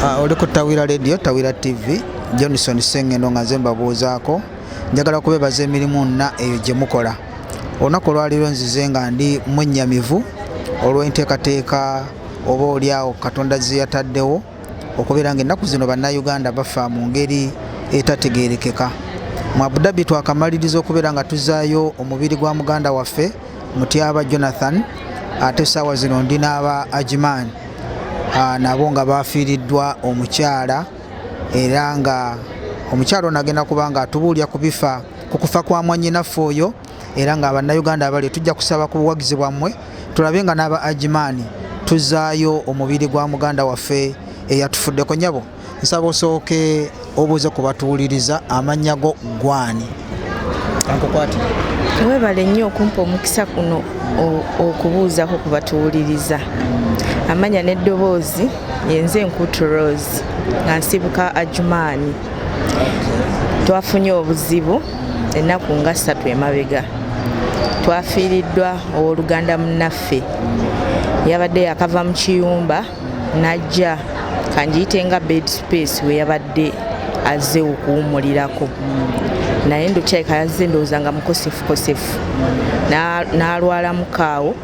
Ah, oli ku tawira radio tawira tv johnson sengendo nga nze mbabuuzaako njagala okubeebaza emirimu nna eyo gye mukola olunaku olwaliro nzize nga ndi mwennyamivu olw'enteekateeka oba oliawo katonda zeyataddewo okubeera nga ennaku zino bannayuganda bafa mu ngeri etategeerekeka mu abudabi twakamaliriza okubeera nga tuzaayo omubiri gwa muganda waffe mutyaba jonathan ate essaawa zino ndi n'aba ajiman ah, nabo nga bafiiriddwa omukyala era nga omukyala ono agenda kuba nga atubuulira ku bifa ku kufa kwa mwanyinaffe oyo era nga bannayuganda abali tujja kusaba ku buwagizi bwammwe tulabe nga n'aba ajimaani tuzaayo omubiri gwa muganda waffe eyatufuddeko nyabo nsaba osooke obuuze ku batuwuliriza amannya go gwani ankukwati webale nnyo okumpa omukisa kuno okubuuzako ku batuwuliriza amanya n'eddoboozi yenze enkuutu rose nga nsibuka ajumaani twafunye obuzibu ennaku nga ssatu emabega twafiiriddwa ow'oluganda munnaffe yabadde yakava mu kiyumba najja kanjiyite nga bed space weyabadde azze okuwumulirako naye ndokyayika yazze ndowooza nga mukosefukosefu n'alwala mukaawo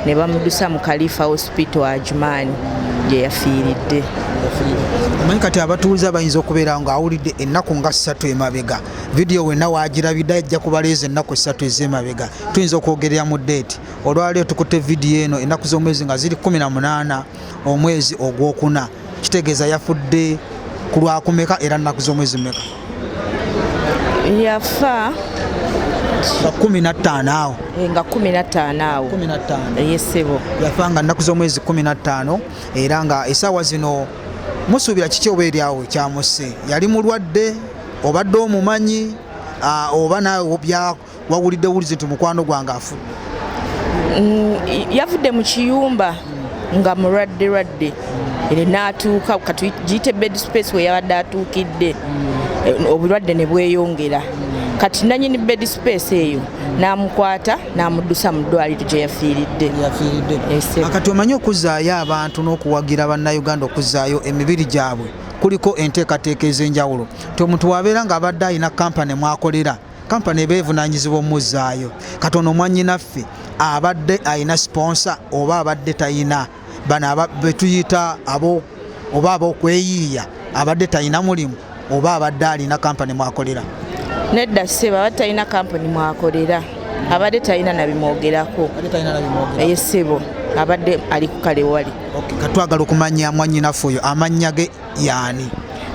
ne bamudusa mu kalifa hospital ajumaani gye yafiiridde manyi kati abatuuze abayinza okubeera nga awulidde ennaku nga ssatu emabega vidiyo wenna wagirabidde ajja kubaleeza ennaku ssatu ez'emabega tuyinza okwogerera mu deeti olwaliro tukutte vidiyo eno ennaku z'omwezi nga ziri 18 omwezi ogwokuna kitegeeza yafudde ku lwakumeka era nnaku z'omwezi meka yafa nga kumi nattaano awo eh, nga kumi nattaano awo kumi nattaano eyesebo eh, yafa nga nnaku z'omwezi kumi nattaano era nga esaawa zino musuubira kiki oba eryawo kyamusse yali mulwadde obadde omumanyi ah, oba nawe wawulidde wulizi nti mukwano gwange afudde mm, yavudde mu kiyumba nga mulwadde lwadde era n'atuuka katugiyite bed space we yabadde atuukidde eh, obulwadde ne bweyongera kati nanyini bed space eyo n'amukwata n'amuddusa mu ddwaliro gye yafiiridde kati omanyi okuzzaayo abantu n'okuwagira bannayuganda okuzzaayo emibiri gyabwe kuliko enteekateeka ez'enjawulo nti omuntu wabeera ng'abadde alina kampani mwakolera kampani eba evunaanyizibwa omuzzaayo kati ono mwannyinaffe abadde alina siponsa oba abadde talina bano betuyita abo oba abokweyiiya abadde talina mulimu oba abadde alina kampani mwakolera nedda seba abadde talina kampani mwakolera abadde talina nabimwogerako eye sebo abadde ali kukale wali katwagala okumanya mwanyinaffe oyo amannya ge yaani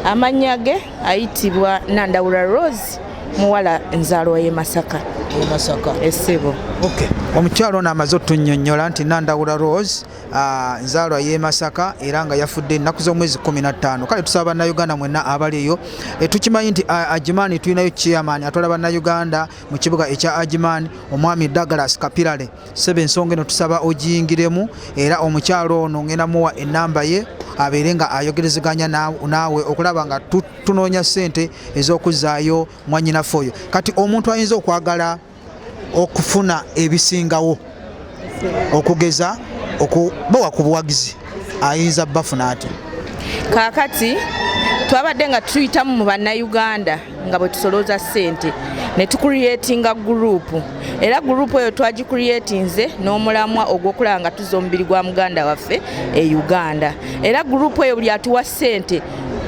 amannya ge ayitibwa nandawula rose muwala nzaalwa ye masaka masaka essebo okay. omukyalo ono amaze otunyonyola nti nandawula rose ah, nzaalwa ye masaka era nga yafudde ennaku z'omwezi 15 kale tusaba bannayuganda mwenna abaliyo eh, tukimanyi nti ah, ajimaani tulinayo chairman atwala bannayuganda mu kibuga ekya ajimaani omwami douglas kapirale sebe ensonga eno tusaba ogiyingiremu era omukyalo ono ngenda muwa enamba ye abeere nga ayogerezeganya naawe okulaba nga tunoonya ssente ez'okuzzaayo mwanyinaffe oyo kati omuntu ayinza okwagala okufuna ebisingawo okugeza okubawa ku buwagizi ayinza bafuna ati kaakati twabadde nga tuyitamu mu bannayuganda nga bwe tusolooza ssente ne tukuliyetinga guruupu era guruupu eyo twagikuliyetinze n'omulamwa ogw'okulaba nga tuza omubiri gwa muganda waffe e uganda era guruupu eyo buli atuwa ssente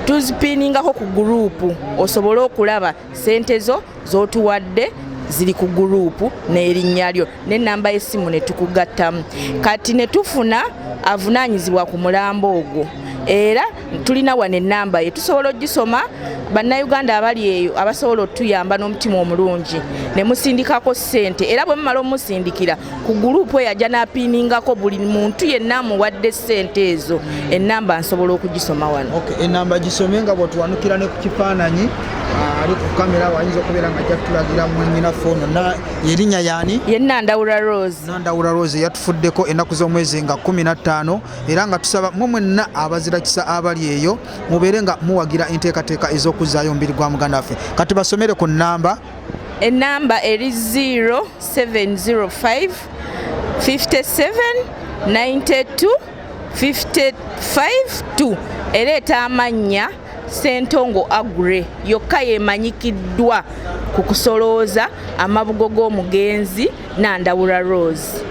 tuzipiiningako ku guruupu osobole okulaba ssente zo z'otuwadde ziri ku guruupu n'erinnya lyo n'ennamba y'essimu ne tukugattamu kati ne tufuna avunaanyizibwa ku mulambo ogwo era tulina wano enamba ye tusobola ogisoma bannayuganda abali eyo abasobola otuyamba n'omutima omulungi ne musindikako ssente era bwe mumala omusindikira ku guluupu eyo ajja n'apiiningako buli muntu yenna amuwadde ssente ezo ennamba nsobola okugisoma wano enamba gisome nga bwetuwanukira ne ku kifaananyi ah, ali ku kamera wayinza okubeera nga ajja kutulagira mwanyina foono yerinnya yaani ye nandawula rose nandawula rose yatufuddeko ennaku z'omwezi nga kumi na ttaano era nga tusaba mwe mwenna abazirakisa abali eyo mubeere nga muwagira enteekateeka ez'okuzzaayo omubiri gwa muganda waffe kati basomere ku nnamba enamba eri 0705 57 92 552 ereeta amannya Ssentongo Agure yokka yemanyikiddwa ku kusolooza amabugo g'omugenzi Nandawula Rose.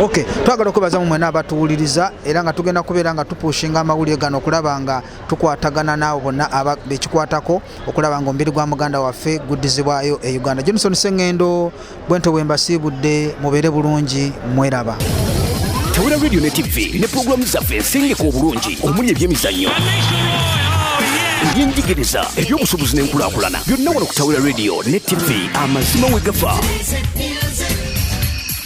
Okay, twagala okwebaza mu mwena abatuwuliriza era nga tugenda kubeera nga tupushinga amawulire gano okulaba nga tukwatagana naawe bonna bekikwatako okulaba nga omubiri gwa muganda waffe guddizibwayo e Uganda. Johnson Sengendo bwento bwembasiibudde mubeere bulungi mweraba tawera radio ne tv ne pulogulaamu zaffe ensengeka obulungi omuli ebyemizannyo ebyenjigiriza ebyobusuubuzi n'enkulaakulana byonna wano ku tawera radio ne tv amazima we gafa